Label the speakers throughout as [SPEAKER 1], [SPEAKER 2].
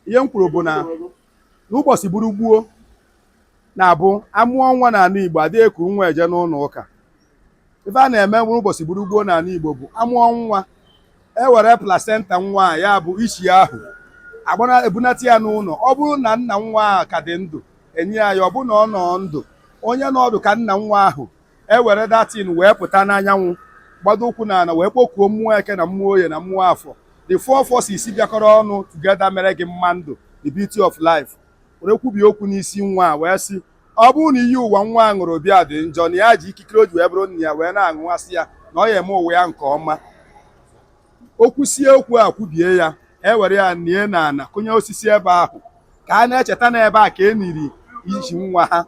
[SPEAKER 1] ihe m kwuru bụ na n'ụbọchị bụrụ gboo na-abụ amụọ nwa n'ala Igbo adịghị eku nwa eje n'ụlọ ụka ife a na-eme n'ụbọchị bụrụ gboo n'ala Igbo bụ amụọ nwa e were placenta nwa a ya bụ isi ahụ ebunata ya n'ụlọ ọ bụrụ na nna nwa ahụ ka dị ndụ enye ya ya ọ bụrụ na ọ nọọ ndụ onye nọ ọdụ ka nna nwa ahụ e were that thing wee pụta n'anyanwụ gbado ụkwụ na ala wee kpọkuo mmụọ eke na mmụọ oye na mmụọ afọ the four forces bịakọrọ ọnụ together mere gị mma ndụ the beauty of life were kwubie okwu n'isi nwa a wee sị ọ bụrụ na iyi ụwa nwa a ṅụrụ bịa dị njọ na ya ji ikikere o ji wee bụrụ nna ya wee na-aṅụwasị ya na ọ ya-eme ụwa ya nke ọma o kwusie okwu a kwubie ya ewere ya nie na ana kụnye osisi ebe ahụ ka a na-echeta na ebe a ka e niri iji nwa ha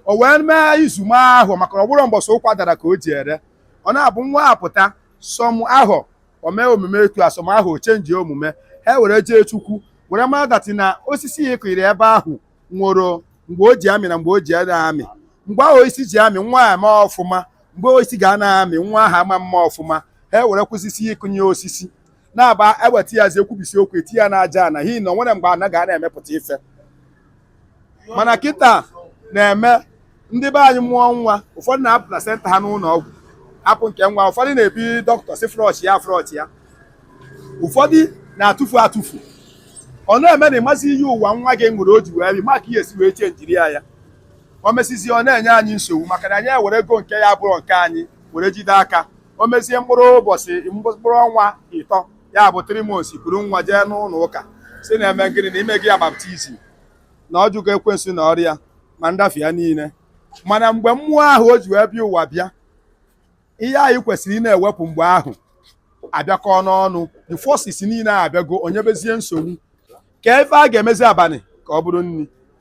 [SPEAKER 1] o wee mee izu ma ahụ maka na ọ bụrọ mbọsị ụkwa dara ka o ji ere ọ na-abụ nwa apụta somehow o mee omume etu a somehow o chenji omume ha were jee chukwu were mara that na osisi ya ị kụnyere ebe ahụ nwere mgbe o ji amị na mgbe o ji anaghị amị mgbe ahụ osisi ji amị nwa ya eme ọfụma mgbe osisi ga anaghị amị nwa ahụ ama eme ọfụma ha ewere kwụsịsị ịkụnye osisi na-abụ eweta ya zi e kwubisie okwu etiye n'aja ana n'ihi na o nwere mgbe ana ga na-emepụta ife mana kịta na-eme ndị be anyị mụọ nwa ụfọdụ na-ahapụ placenta ha n'ụlọ ọgwụ apụ nke nwa ụfọdụ na-ebi dọkịta sị flush ya flush ya ụfọdụ na-atụfu atụfu ọ na-eme na ị mazi iyi ụwa nwa gị ṅụrụ o ji wee bịa maka ihe esi wee chenjiri ya ya o mesizie ọ na-enye anyị nsogbu maka na anyị ewerego nke abụrọ nke anyị were jide aka o mezie mkpụrụ ụbọchị mkpụrụ ọnwa ịtọ ya bụ three months buru nwa jee n'ụlọ ụka sị na-eme gịnị na i mego ya baptism na ọ jụgo ekwensu na ọrụ ya ma nrafu ya niile mana mgbe mmụọ ahụ o ji wee bịa ụwa bịa ihe anyị kwesịrị ị na-ewepụ mgbe ahụ abịakọ n'ọnụ the forces niile a abịago o nyebezie nsogbu ka ife a ga-emezi abalị ka ọ bụrụ nri